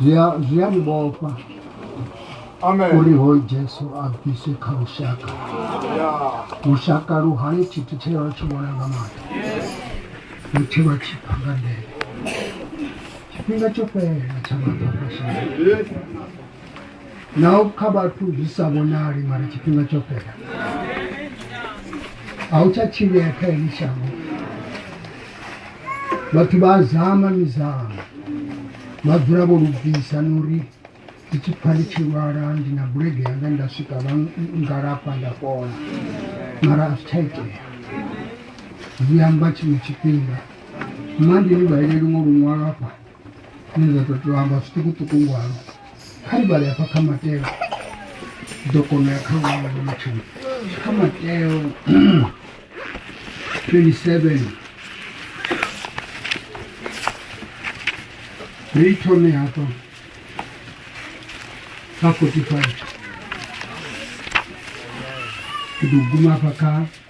zwi a zwi a ni vhofha Amen. uri hoyu jesu a bviswe kha lushaka Yeah. lushaka lu hali tshithu tshe lwa tshi vhona nga maṱo lu tshi lwa tshi pha nga ndele tshifhinga tsho fhelela tsha maṱo a shaka Yes. naho kha vhathu zwi sa vhonali mara tshifhinga tsho fhela a u tsha tshilea kha heli shango vhathu vha zama mizama vha dzula vho lubvisa na uri ndi tshi pfha ndi tshi lwala ndi na bulege yanga nda swika vha ngalafha nda fhola mara a zwi tsha itea zwi amba tshiṅwe tshifhinga mma ndi ni vhaeleli ngo luṅwalafha zwine zwa tou tou amba zwiṱukuṱuku ngwalo kha ri vhale hafha kha mateo ḓo kona ya kha ngwalo ḽo matshelo kha mateo 27 ri thome hafha kha 45 ke ḓo guma hafha kha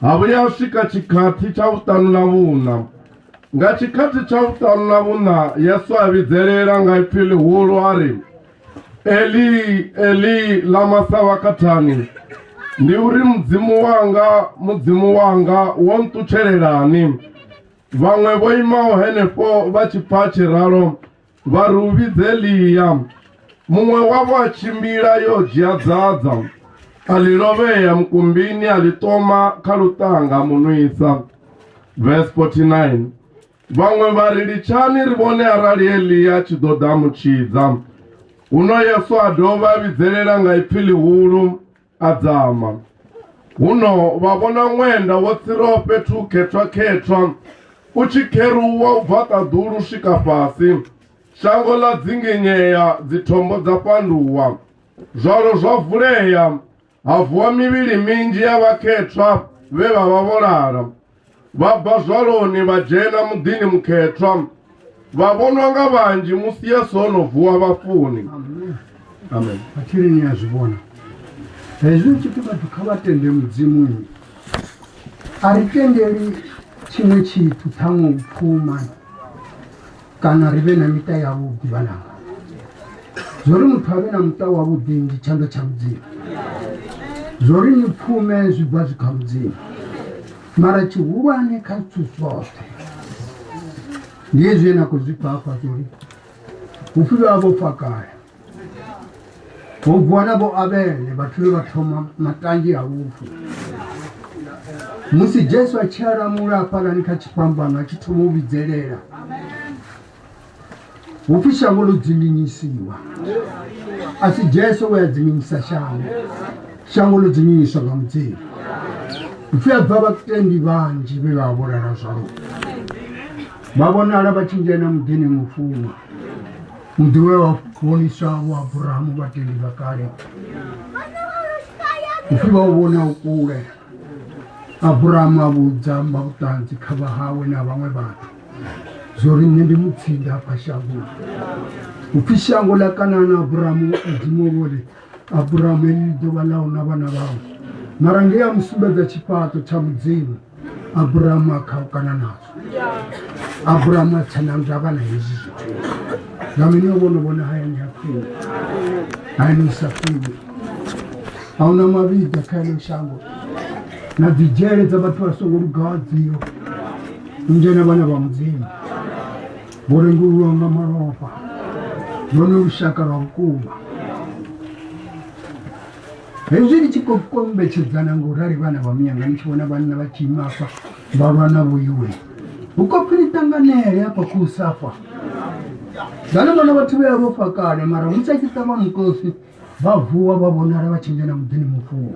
ha vhuya ha swika tshikhathi tsha vhuṱanu na vhuṋa nga tshikhathi tsha vhuṱanu na vhuṋa yesu a vhidzelela nga ipfi ḽihulu a ri eli eli lama savakathani ndi uri mudzimu wanga mudzimu wanga wo nṱutshelelani vhaṅwe vho imaho henefho vha tshi pfa tshiralo vha ri u vhidze ḽia muṅwe wavho a tshimbila yo dzhia dzadza a ḽi lovhea mukumbini a ḽi toma kha luṱanga munwisa verse 49 vhaṅwe vha ri litshani ri vhone arali elia tshi ḓo ḓa mutshidza huno yesu a dovha a vhidzelela nga ipfi ḽihulu a dzama huno vha vhona ṅwenda wo tsiraho fhethu khethwa-khethwa u tshi kheruwa u bva ṱaḓulu u swika fhasi shango ḽa dzinginyea dzithombo dza fhanduwa zwalo zwa vulea ha vuwa mivhili minzhi ya vhakhethwa vhe vha vha vho lala vha bva zwaloni vha dzhena muḓini mukhethwa vha vhonwa nga vhanzhi musi yesu o no vuwa vhafuni amen athiri ni a zwi vhona hezwi ri tshi pfi vhathu kha vha tende mudzimu nnyi a ri tendeli tshiṅwe tshithu ṱhaṅwe u pfuma kana ri vhe na miṱa yavhuḓi vhananga zwo ri muthu a vhe na muṱa wavhuḓi ndi tshanḓa tsha mudzimu zwo ri ni pfume zwi bva zwi kha mudzimu mara tshihulwane kha zwithu zwoṱhe ndi hezwi ye na khou zwi pfafha zwo ri vhupfhilo ha vhofha kale vhugwana vho avhele vhathu vhe vha thoma matanzhi a lufu musi jesu a tshi alamula hafhalani kha tshifhambano a tshi thoma u vhidzelela hupfi shango ḽo dzinginyisiwa a si jesu we a dzinginyisa shango shango ḽo dzinginyiswa nga mudzimu upfi a bva vhatendi vhanzhi vhe vha vholala zwavhuḓi vha vhonala vha tshi dzhena muḓini mufunwa muḓiwe wa vhonisa vho abrahamu vhateli vha kale upfi vha u vhona u kule abrahamu a vhudza mba vhuṱanzi kha vha hawe na vhaṅwe vhathu zwo ri nṋe ndi mutsinda afha shangoni upfi shango ḽa kanana abrahamu mudzimu vhori abrahamu eni ḓuvha ḽau na vhana vhawe mara nge ya mu sumbedza tshifhaṱo tsha mudzimu abrahamu a khaukana nazwo abrahamu a tsana ndavha na hezwi zwithu nga mini o vhono vhona hayani ya khwine hayani sa khwine a huna mavhiḓa kha eno shango na dzidzhele dza vhathu vha songo lugaho dzio nzhena vhana vha mudzimu murengi uyu wanga maropa none ushaka lwa vhukuma hezwi ni tshi khou kombetshedzana nga u rali vhana vha muyanga ni tshi vhona vhanna vha tshi ima afha vha lwa na vhoiwe hu khou pfi ni ṱanganele afha khou safha zwane vhona vhathu vhea vho fakale mara hu sa tshi ṱavha mukosi vha vuwa vha vhonala vha tshi ngena muḓini mufuwo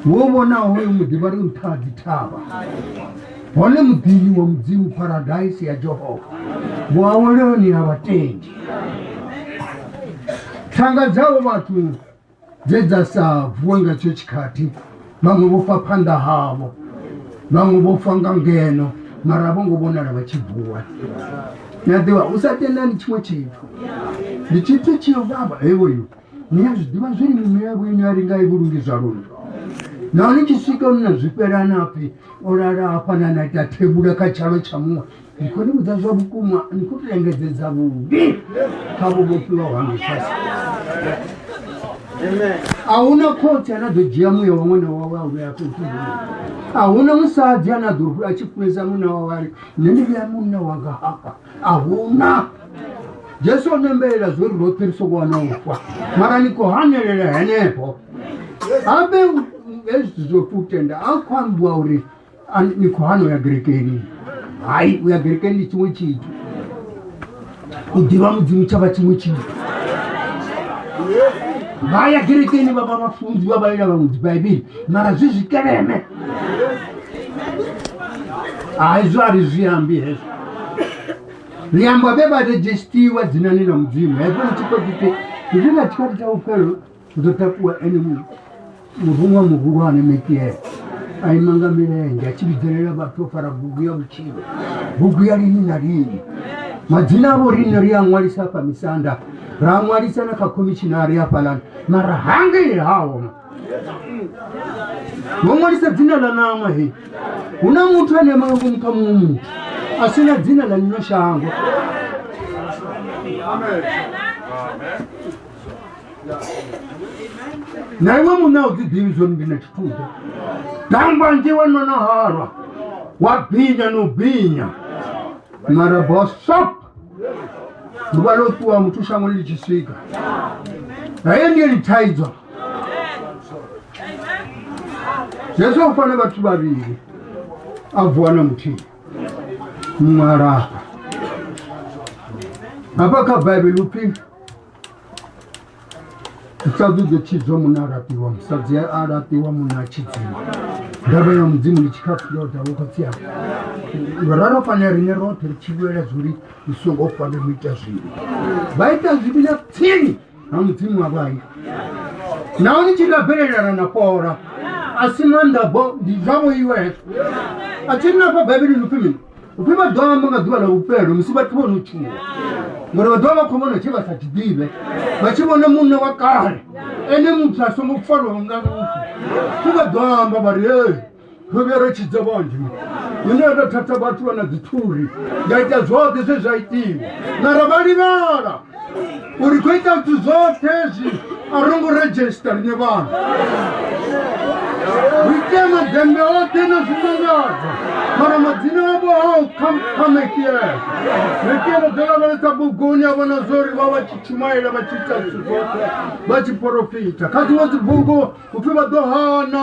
wo vhonaho hoyo muḓi vha ri nṱha ha dzithavha hone muḓini wa mudzimu paradise ya jehova vhuaweloni ha vhatendi thanga dzavho vhathu dze dza sa vuwe nga tsho tshikhathi vhaṅwe vho fa phanḓa havho vhaṅwe vho fa nga ngeno mara vho ngo vhonala vha tshi vuwa ni a ḓivha u sa tendani tshiṅwe tshithu ndi tshithu tshi yo vhavha hevoyo ni a zwi ḓivha zwine miṅwe yavho ine a ringa i vhulungi zwa lunu nahone tshi swika nna zwifhelana pfhi o lala hafhanana ita thebula kha tshalo tsha muṅwe ndi khou ni vhudza zwa vhukuma ni khou tou engedzedza vhuvhi kha vhuvhofhiwa ha mifasi a hu na khotsi ane a ḓo dzhia muya wa ṅwana wawe a vhuya fhethu a hu na musadzi ane a ḓo a tshi funesa munna wawe ari nṋe ndi vhuya munna wanga hafha a hu na jesu o nembelela zwo ri roṱhe ri soko wana u fa mara ni khou hanelela henefho habe hezwi zwo futenda a khou ambiwa uri Ani ni khou hana u ya gerekeni hai u ya gerekeni ndi tshiṅwe tshithu u ḓivha mudzimu tsha vha tshiṅwe tshithu vha ya gerekeni vha vha vhafunzi vha vhalela vhaṅwe dzibaibele mara zwi zwi keleme hai zwo a ri zwi ambi hezwo ri amba vhe vha redzhestiwa dzinani na mudzimu hezwo ni tshi khou ḓite zwi na tshikhathi tsha vhufhelo ndo takuwa ene muruṅwa muhulwane metiele a ima nga milenzhe a tshi vhidzelela vhathu o fara bugu ya vhutshilo bugu ya lini na lini madzina avho rine ri a ṅwalisa afha misanda ra ṅwalisa na kha khomishinari afhalani mara hangei hawo ngo ṅwalisa dzina ḽa ṋama he hu na muthu ane ma ngomu kha muṅwe muthu a si na dzina ḽa lino shango na iwe muṋe a u dzi ḓivhi zwori ndi na tshithuḓa dangwanzhi wa no no halwa wa binya no binya mara bosop ḓuvha ḽo ṱuwa muthu shango ḽi tshi swika haye ndiye ḽi thaidzwa yesu u fane vhathu vhavhili a vuwa na muthihi muṅwe alafha hafha kha baibele upfhi musadzi u ḓo tshidzwa munna a laṱiwa musadzi a laṱiwa munna a tshidziwa ndavha ya mudzimu ndi tshikhafulo ya dalo khotsi yako rara fana rine roṱhe ri tshivhulela zwori u songo fane mu ita zwivhi vha ita zwivhi na tsini na mudzimu wa vhayi nahone tshi nga bvelelana na pola a si maanḓa bo ndi zwa vhoiwe hezwo a tshi ri na fha baibelini upfhi mini upfi vha ḓo amba nga ḓuvha ḽa vhufhelo musi vhathu vho no tshuwa ngori vha ḓovha vha khou vhona tshe vha sa tshi ḓivhe vha tshi vhona munna wa kale ene muthu a songo farwaho nga lufu pfi vha ḓo amba vha ri ee ro vhuya ro tshidza vhanzhi ine ndo thatha vhathu vha na dzithuri nda ita zwoṱhe zwe zwa itiwa mara vha livhala uri khou ita zwithu zwoṱhe zwi a ro ngo redzhista riṋe vhana ri tea maḓembe oṱhe na zwimangadza mara madzina avho hao khamekiela ri tea ro ḓo lavhelesa buguni a vhona zwo ri vha vha tshi tshumaela vha tshi ita zwithu zwoṱhe vha tshi porofita kha dziṅwe dzibugu upfhi vha ḓo hana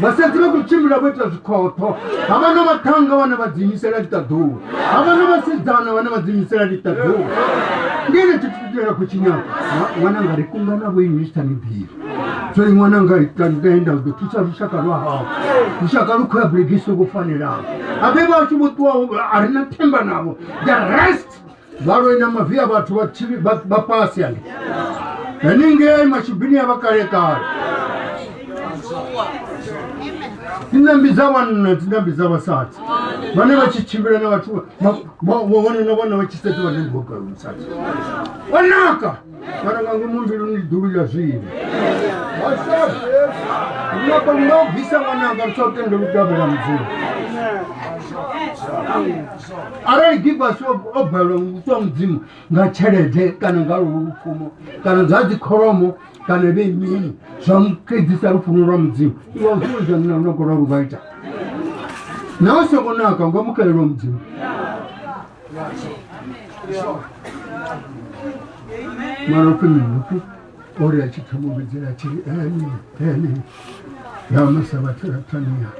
vhasadzi vha khou tshimbila vho ita zwikhotho ha vha na vhaṱhanga vhane vha dziimisela ḽiṱaḓuwa ha vha na vhasidzana vhane vha dziimisela ḽiṱaḓuwa ndi ene tshithu tshine ra khou tshinyaka ṅwananga ri kunga na vho imisita mibiri so i ṅwananga itaenda ḓo thusa lushaka lwa hao lushaka lu khou ya bulegisi vho fanelaho a vhe vha tshi vho ṱuwa a ri na themba navho the rest valo ina mavi a vhathu vha tshi- vha- vha fhasi yani haningei mashubini ya vha kale kale dzinambi dza vhanna dzinambi dza vhasadzi vhane vha tshi tshimbila na vhathu vha- vha- vha- vhone na vhana vha tshi setiwa na ndivhogalusadzi wanaka kana nga ngomu mbiluni ndi dulu ya zwino nako nga u bvisa ṅwananga ri sa u tende lutavhela mudzimu arali givasi o balelwa nguswa mudzimu nga tshelede kana nga lufumo kana zwa dzikholomo kana vhe mini zwa mukedzisa lufuno lwa mudzimu iwa usuwezanina lunako lwa luvha ita nawe sokonaka nga mukalelwa mudzimu mara ku ni mutu ori a tshi pfha muvhidzi a tshi ene ene ya masa vhathu ra tania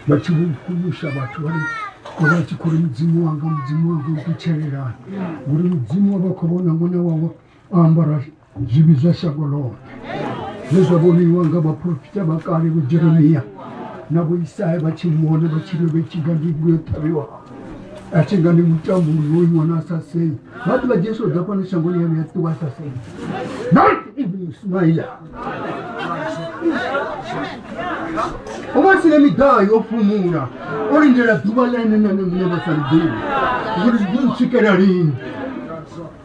vha tshi vhukumusha vhathu vha ri vha tshi khou ri mudzimu wanga mudzimu wanga u ṱutshelelani ngori mudzimu wa vha khou vhona ṅwana wawe o ambara zwivhi zwa shango ḽoṱhe zwe zwa vhoniwa nga vhaprofita vha kale vho jeremiya na vho isaya vha tshi muvhona vha tshiri vhe tshinga ndi vhu yo ṱhavhiwa a tshi nga ndi mutambo wo iwana a sa sei vha ḓi vha jesu ḓa fhano shangoni yanu ya ṱuwa a sa sei not even ismaila o vha sina miḓaha yo fhumula o lindela ḓuvha ḽene nane muṋe vha sa ḽiḓivhi uri zwi ḓo ntswikela lini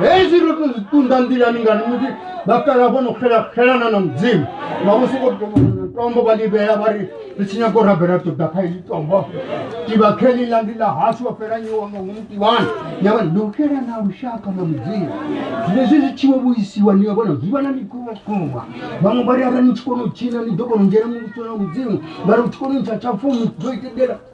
hezwi ro to zwi ṱunḓa nḓilani ngani musi vhakala vho no xelana na mudzimu vhaṅwe soko tombo vha ḽi vhea vha ri ri tshi nyago rabela ṱoḓa kha ili tombo tivha kheni ḽa ndi ḽa hashu wa fhela nyiwa nga ngomu tivhani ya vha ndo xela na lushaka na mudzimu zwine zwi zwi tshiwo vhuisiwa ni ya vhona zwi vha na mikumba vhaṅwe vha ri arali ni tshi kona u tshina ni ḓo kona u dzhena muvhusona mudzimu vha ri u tshi kona u ntsha tsha founu ḓo itendela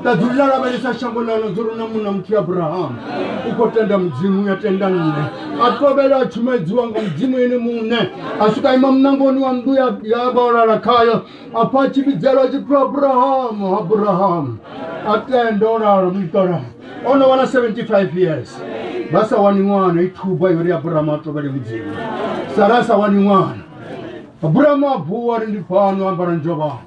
nda dzuli ḽa lavhelesa shango ḽano dzo runa munna muthihi abrahamu u khou tenda mudzimu ya tenda nṋe a tovhela a tshumedziwa nga mudzimu ene muṋe a swika ima munangoni wa nnḓu ya vhaolala khayo afha a tshi vhidzelwa a tshi pfhi abrahamu abrahamu a tenda o lala muṱola o no wana 75 years vha sa wani ṅwana i thuba yori abrahamu a tovhele mudzimu sara a sa wani ṅwana abrahamu a vuwa ri ndi fhano ambara njovhana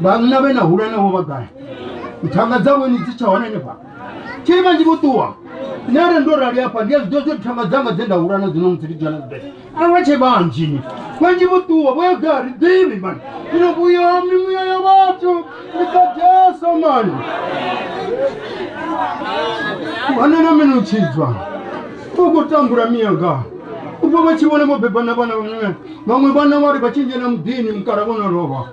vhanna vhe na hulwane vho vha gai thanga dzavho ni dzi tsha hone ni fha tshiri vhanzhi vho ṱuwa nṋe are ndo rali afha ndi a zwi ḓo zwi thanga dzanga dze nda hulana dzi no musi ndi dzhana dzi bele a vha tshe vhanzhi ni vhanzhi vho ṱuwa vho ya gai ri ḓivhi mani ino vhuya mimuya ya vhathu ni ḓa jesu mani vhana na mene u tshidzwa u khou tambula miyanga ubva vha tshi vhona vho beba na vhana vhaṅwe vhaṅwe vhana vha ri vha tshi ndzhena muḓini mukala vho no lovha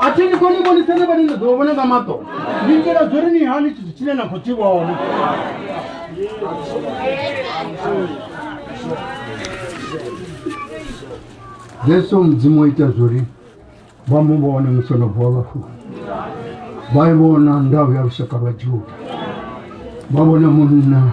a thi ni koni vhonisane vhane ni ḓo vhona nga maṱo ni itela zwo ri ni hani tshithu tshine na khou tshi vhona jesu mudzimu o ita zwori vha mu vhone musi no vuwa vhafuni vha i vhona ndau ya lushaka lwa juda vha vhona munna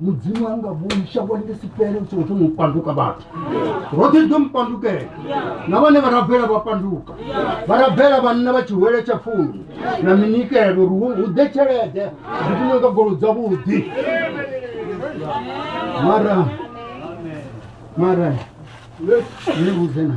mudzimu anga vhoni shango ḽi si fhele u songo thoma u panduka vhathu roṱhe ri ḓo mu pandukela na vhane vha rabela vha panduka vha rabela vhanna vha tshihwele tsha pfumi na minikelo uri hu ḓe tshelede ri kume nga golo dzavhuḓi mara mara ni vhudze na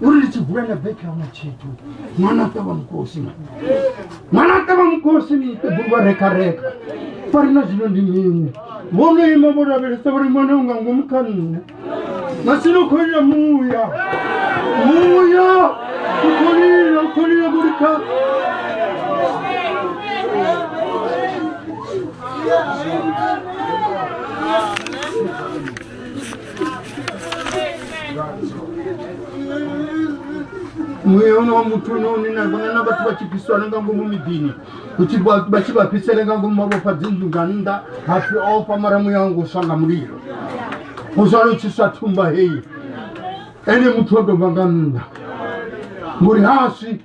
uri ri tshi bula na beki hauna tshithu ṅwana ṱavha mukosi ma ṅwana ṱavha mukosi mi ṱebulwa reka reka fa ri na zwino ndi mini vho no ima vho lavhelesa vhori ṅwana u nga ngomu kha nṋe masino kholila muya muya u kholila u kholila vhori kha Yeah. mweya uno wa muthu unoonena vangana vhathu vha tshi bviswana nga ngomu miḓini uthi vha tshi vha bvisele nga ngomu mavhofha dzinzhu nga nnḓa hapfi ofha mara muya wangu uswa nga mulilo uzwala u tshi swa thumba heyi ene muthu o dovha nga nnḓa ngori haswi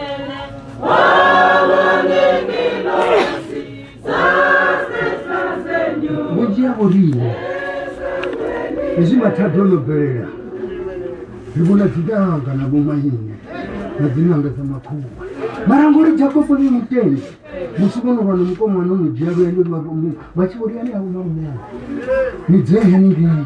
vhunzhi ha vhoriṋe hezwi mathada o no bvelela ri vhona dzidanga na vhomaine na dzinanga dza makhuwa mara ngori jakobo ni mutendi musi vho no vha na mukomana o no dzhia lwendo vha tshi vhoriani a vhona munyana ni dzee haningei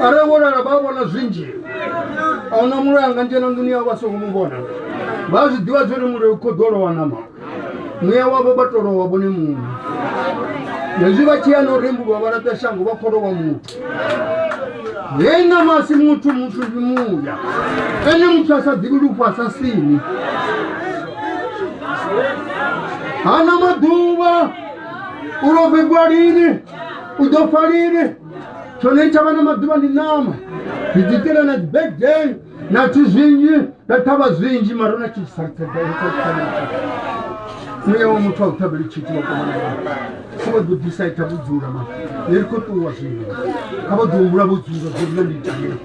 arali vho lala vha vhona zwinzhi a huna mulayo nga nzhena nḓuni yavho vha songo mu vhona vha zwi ḓivha zwori mulayo u khoḓo lowa nama muya wavho vha to lowa vhone muṋe hezwi vha tshiya no rembulwa vha laṱa shango vha kholowa muthu hei nama asi muthu muthu ndi muya ene muthu a sa ḓivhi lufu a sa sini hana maḓuvha u lovhegwa lini u ḓo pfa lini tshone ni tsha vha na maḓuvha ndi ṋama ndi ḓi itela na dzibegden na zwithu zwinzhi na ṱhavha zwinzhi mara na muya wa muthu a u ṱhavheli tshithu wa koma kha vha ḓo ḓisa i ṱhavha u dzula ma ni ri khou ṱuwa zwino kha vha ḓo humbula vho dzula dzula ndi ita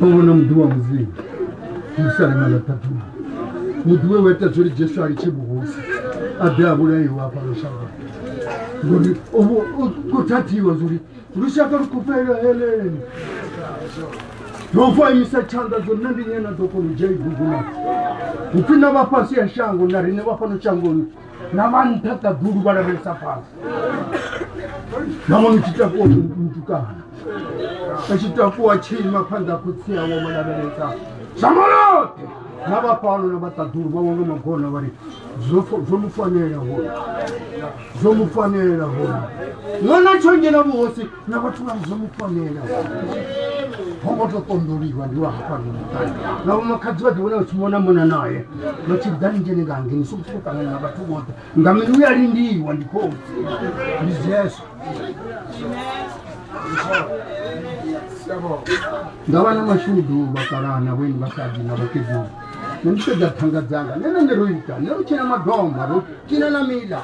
vavona muḓi wa mudzimu musalema ḽa ṱaṱuma muḓi we wa ita zwori jesu a litshe vhuhosi a ḓe a vhulaiwa a fhano shango ngori ko thathiwa zwori lushaka lu khufhela heleni nofa imisa tshanḓa zwo nṋe ndi nyena ḓo kona u dzhia ibugu na upfhi na vha fhasi ya shango na riṋe vha fhano shangoni na vha nṱha ṱaḓulu vha lavhelesa fhasi na mwana tshi takuwa mutukana a tshi takuwa tshi ima phanḓa khotsi awo vha lavhelesa shamolote na vha fhano na vha ṱaḓulu vha wanga magona vha ri zwo mu fanela hone zwo mu fanela hone ṅwana tsho ngena vhuhosi na vhathu vha zwo mu fanela ho ngo to ṱonḓoliwa ndi wa hafha ndi muṱani na vho makhadzi vha ḓi vhona vha tshi mona mona naye vha tshi ḓa ni dzhene nga ngeni so kusuko ṱangana na vhathu vhoṱhe nga mini u ya lindiwa ndi khotsi ndi jesu nga vha na mashudu vhakalana vheni vhasadzi na vhakegulu ne ndi sedza thanga dzanga ne ne ne ro ita ne ro tshina madoma ro tshina na mila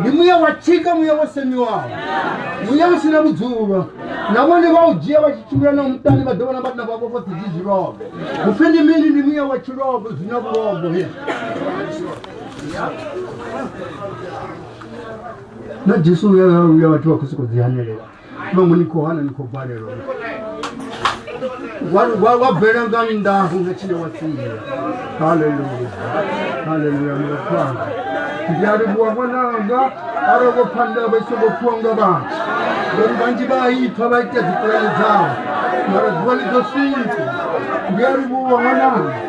ndi mwiya wa tshika mwiya wo semiwaho mwiya u sina vhudzulo na vhone vha u dzhia vha tshi tshimbila na muṱani vha ḓo vhona vhatina vha vhofha dzidzi zwilobe upfi ndi mini ndi mwiya wa tshilobo zwi na vhulobo he na jesu uya uya vhathu vha khou sokou dzi hanelela mamu ni khou hana ni khou balelwa wa bvela nga nndaho nga tshine wa tsiya haleluya haleluya mulakhwanga ndi a livhuwa ṅwananga arali vho pfha ndavha i songo pfiwa nga vhathu ngori vhanzhi vha a ipfa vha ita dzipulane dzavho mara ḓuvha ḽi ḓo swika ndi a livhuwa ṅwananga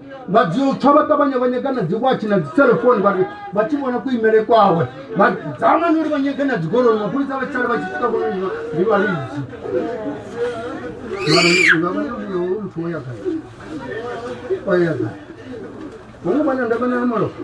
vha dzi tswa vha ṱavhanya vha nyaga na dziwatshi na dziselefoni vhari vha tshi vhona kuimele kwawe vha dzamani uri vha nyaga na dzigoloi mapholisa vha tshale vha tshi swika vhona ndi vhalidzi muthu o ya gai o ya gai vhone vhana ndavha na malofha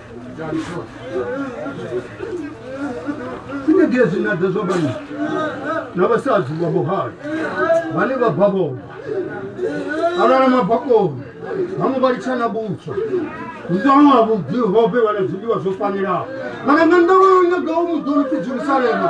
sinegezi nadzo zwa vhanna na vhasadzi vha vhuhali vhane vha bva vhoma alala mabakoni vhaṅwe vha litsha na vhutswa nzanwa vhuḓi hobe vha na zwiḽiwa zwo fanelaho kana nga ndavha yo nyagaho muḓoni pfi jerusalema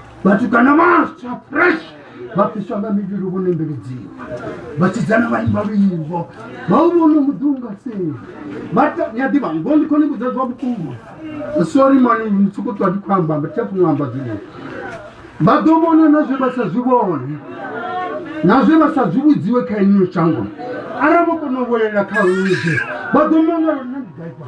vhatukana vhaswa fresh vha fhiswa nga mivhili vho nembeledziwa vhasidzana vha imba luimbo vha u vhona muḓi u nga seli ni a ḓivha ngo ndi khone vhudza zwa vhukuma sori mani mutsuku ṱwa ndi khou amba amba thafu ṅwa amba zwino vha ḓo vhona na zwe vha sa zwi vhone na zwe vha sa zwi vhudziwe kha iniyo shango arali vho kona u vhuelela kha luze vha ḓo mangala na mudaifa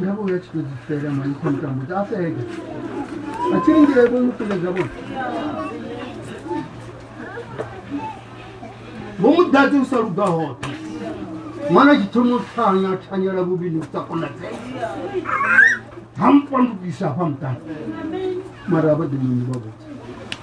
nga vha uya tshito dzifela mani kha mutambo dza fega a tshi lingile vho mutuledza vho vho mu ḓadze u sa luga hoṱhe ṅwana tshi thoma u thanya thanyela vhuvhili u sa konadzea ha mpandukisa hafha muṱani mara vha ḓi muni vha vhudza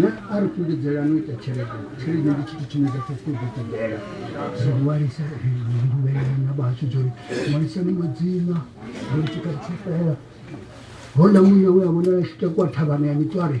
na a ri kuli dzela no ita tshelede tshelede ndi tshithu tshine dza fhasi ḓo ṱoḓela zwo ṅwalisa nduvhelana vhashu dzori ṅwalisa ni madzina uri tshikha tshifela hona muya we a vhonala tshita kwa thavhana ya mitsware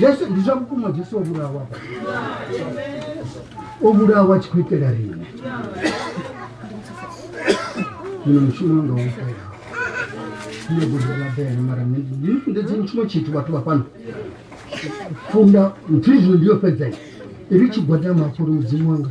jesu ndi zwa vhukuma jesu o vhulawa o vhulawa tshi khou itela rine muno mushumo wanga wo fela nṋe gudela bele mara ndidzi mushumo tshithu vhathu vha fhano funda nthu izwi ndi yo fhedzai iri tshigwadama mafhuri mudzimu wanga